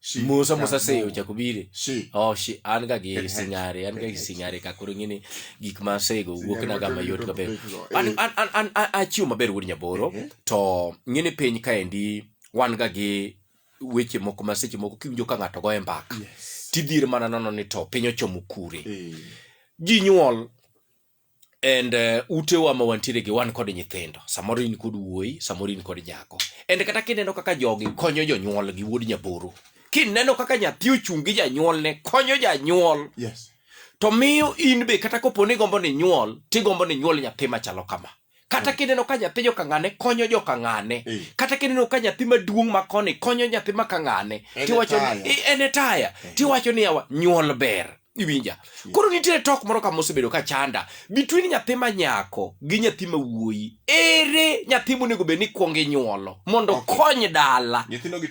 Shi. musa musa Yakubu. seyo chakubire Shi. oh shi an ga gi Good head. singare an ga Good gi head. singare ka koro ng'ini gik ma asego wuok Singare na ga wacho mayot ni kaber to pekgo. an Eh. an an an an- achiwo maber wuod nyaboro Eh. to ng'ini piny kaendi wan ga gi weche moko ma seche moko kiwinjo ka ng'ato goye mbaka Yes. tidhir mana nono ni to piny ochomo kure Eh. ji nyuol and uh, utewa ma wantiere gi wan kod nyithindo samoro in kod wuoyi samoro in kod nyako and kata kineno kaka jogi konyo jonyuol gi wuod nyaboro kineno kaka nyathi ochung' gi janyuolne konyo janyuol yes. to miyo in be kata kopo ni gombo ni nyuol tigombo ni nyuol nyathi machalo kama kata mm. kineno ka nyathi jokang'ane konyo jokang'ane mm. kata kineno ka nyathi maduong' ma koni konyo nyathi ma kang'ane tiwacho en e taya mm. tiwacho ni yawa nyuol ber iwinja koro nitiere tok moro kama osebedo ka chanda between nyathi ma nyako gi nyathi ma wuoyi ere nyathi monego bed ni kwongo inyuolo mondo okay. kony dala nyithindo gi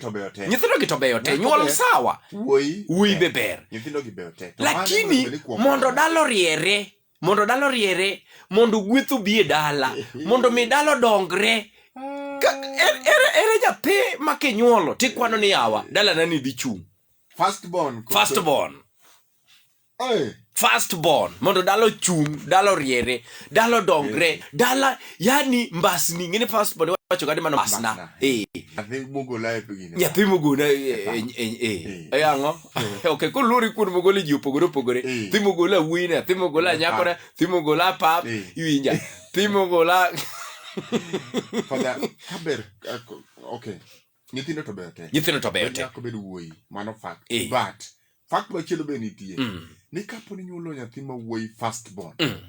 to beyo te nyuol sawa wuoyi be ber lakini mondo dala oriere mondo dalo riere mondo gweth obi e dala mondo mi dalo dongre Ka- er- ere ere nyathi ma kinyuolo tikwano ni yawa dalana ni dhi chung First born. first born Hey. first born mondo dalo chung dalo riere dalo dongre dala yani mbasni ngene first born wacho kadi mano mbasna Mbasna. eh I think Mugo life again. nyathi mogona eh, eh, eh, eh, eh, ang'o eh. ok ko luri kuon mogole ji opogore opogore eh. thimo gola wuine thimo gola nyakore thimo gola pap eh. iwinja thimo gola fada kaber ok nyithindo to beyo te nyithindo to beyo te nyako bedo wuoyi mano fact eh. but fact machielo be nitie mm. ni kapo ni nyuolo nyathi ma wuoyi first born mm.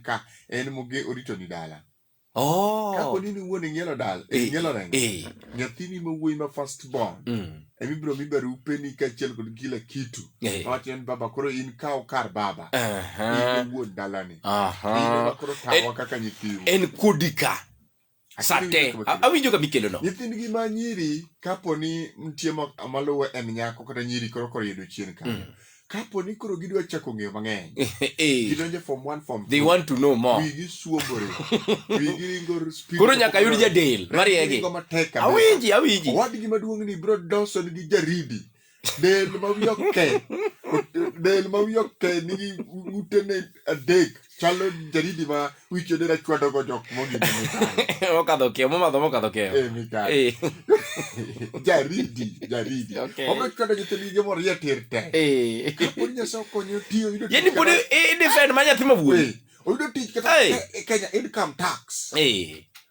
ka en moge orito ni dala Oh. kapo ni ni wuon ing'ielo dala Eh, ing'ielo rengo eh. nyathini ma wuoyi ma first born Mm. emibiro mi barupe ni kaachiel kod kila kitu Eh. wacho ni baba koro in kaw kar baba Aha. in wuon dalani Aha. in ema koro tawa kaka nyithiu en kodi ka sate awinjo ka mikelo no nyithindgi ma nyiri kapo ni nitie maluwe en nyako kata nyiri koro koro yudo chien ka mm. kapo ni koro gidwa chako ng'eyo mang'eny eh. gidonjo form 1 form they want to know more wigi suobore wigi ringo speed koro nyaka yud jadel mariegi awinji awinji wadgi maduong' ni bro Dawson gi jaridi del ma wiye oke del ma wiye oke nigi utene adek chalo jaridi ma wichone rachwadogo jok mogine mokadho keyo momadho mokadho keyo e mikayo Eh, jaridi jaridi Okay. omechwado nyithindgi gimo rie tir te eh. pod nyasaye okonyo tiyo yudo yani tich pod kata- i- i defend ma nyathi mawuoyi Eh, oyudo tich kata Hey. e- e kenya income tax Eh.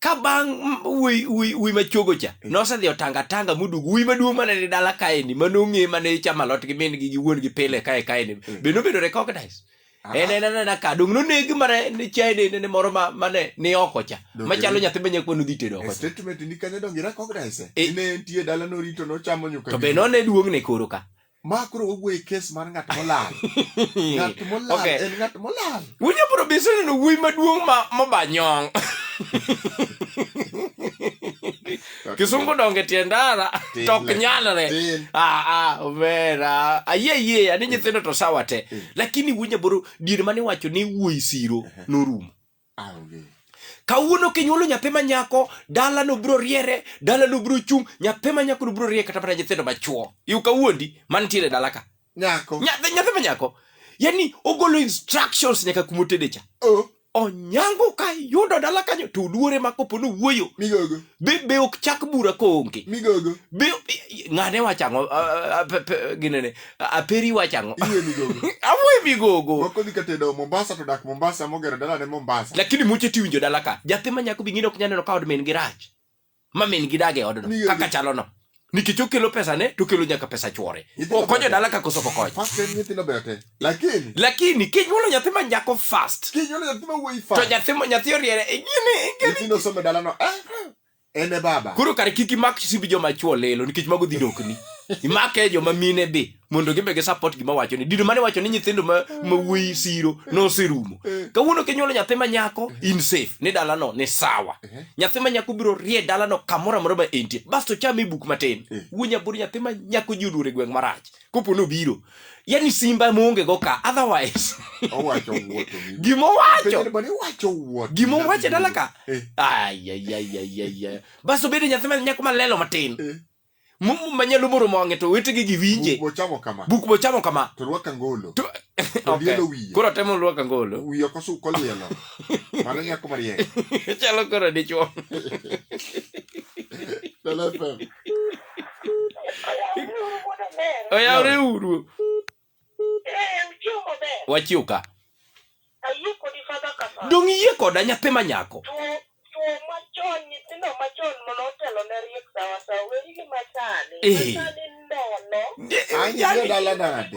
ka bang' m- wuoyi- wuoyi wuoyi machuogo cha nosedhi otanga tanga moduogo wuoyi maduong' mane ni dala kaeni mane ong'e mane chama lot gi min gi gi wuon gi pile kae kaeni be nobedo recognize en en anena ka dong' noneg mane ni chaene nene moro ma- mane ni oko cha Dong' machalo nyathi ma nyakwa nodhi tedo oko cha statement ni kanyo donge recognize Eh. ine entie dala norito nochamo nyuka to be none duong'ne koro ka ma koro wawuoye kes mar ng'at molal ng'at molal Okay. en ng'at molal Winyo bro be iseneno wuoyi maduong' ma moba nyong. Kisungu donge tie ndara Tin. tok nyalre. Tin. Ah ah omera. Ayie ayie ani nyithindo to sawa te. Lakini winyo bro dier mane wacho ni wuoyi siro norumo. Aonge. Kawuono kinyuolo nyathi ma nyako, dala no bro riere, dala no bro chung, nyathi ma nyako no bro riere kata mana nyithindo ma chuo. Yu kawuondi mantiere dala ka. Nyako. Nyathi nyathi ma nyako. Yani ogolo instructions nyaka kuma otede cha. Oh. Onyango ka yudo dala kanyo to luore ma kopo no wuoyo. Migogo. Be be ok chak bura koonge. Migogo. Be ng'ane wachango uh, uh, uh, ginene. aperi iwacho ang'o Iye migogo. amoe migogo Moko dhi kata e doho Mombasa to dak Mombasa mogero dalane Mombasa. lakini muche tiwinjo dala ka jathi ma nyako bingine ok nyal neno ka od min gi rach ma min gi dag e odno Ni- kaka chalono nikech okelo pesa ne to okelo nyaka pesa chwore Nyithindo okonyo ber. dala ka koso pokonyo First time nyithindo beyo te. Lakini lakini kinyuolo nyathi ma nyako fast kinyuolo nyathi ma wuoyi to fa. nyathi ma- nyathi oriere e gini Nyithindo somo e dalano. Eh, en e baba koro kare kik imak simb joma chwo lelo nikech mago dhi dokni imake joma mine be mondo gimbe gi support gima wacho ni dino mane wacho ni nyithindo ma ma wuoyi siro noserumo eh. kawuono kinyuolo nyathi ma nyako eh. in safe ni dala no ni sawa eh. nyathi ma nyako biro rie dala no kamoro amora ma entie basto chame buk matin wuo nyabur nyathi ma nyako ji oduore gweng marach kopo nobiro yani simba monge go ka otherwise owacho wuoto gima owacho bani owacho wuoto gima owacho dala ka eh. ay ay ay ay ay bas obedo nyathi ma nyako malelo matin eh. mumu manyalo moro mong'e to wetegi gi winje buk bochamo kama buk bochamo kama to rwaka ngolo to okay. wiye koro temo rwaka ngolo wiye kosu kolielo mano nyako mariek chalo koro dichuo dala fam oyawre uru wachiw ka dong iyie koda nyathi ma nyako Eh. Anyi dala nade?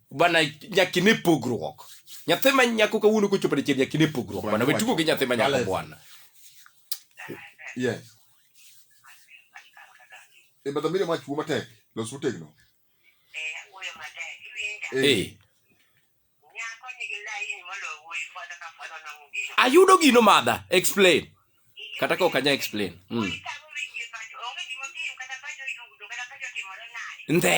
bana nyaka ine pogruok nyathi ma nyako kawuono kochopo dichiel nyaka ine pogruok bana we tugo gi nyathi ma nyako bwana yes e eh, badhamire mach wuo matek los utegno eh, eh. ayudo gino madha explain kata ka ok anya explain mm. ndhe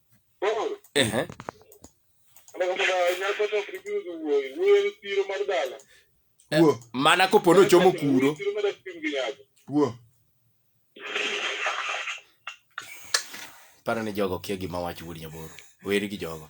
Ehe. Wuo. Mana kopo nochomo kuro. Wuo. Paro ni jogo kia gima wach wuod nyaboro. Weri gi jogo.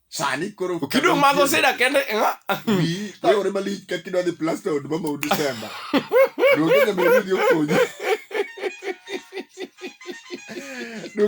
sani koro kido mago sida kende nga wi ta ore malich ka kido ni plaster od mama udi semba do ne me video konyi do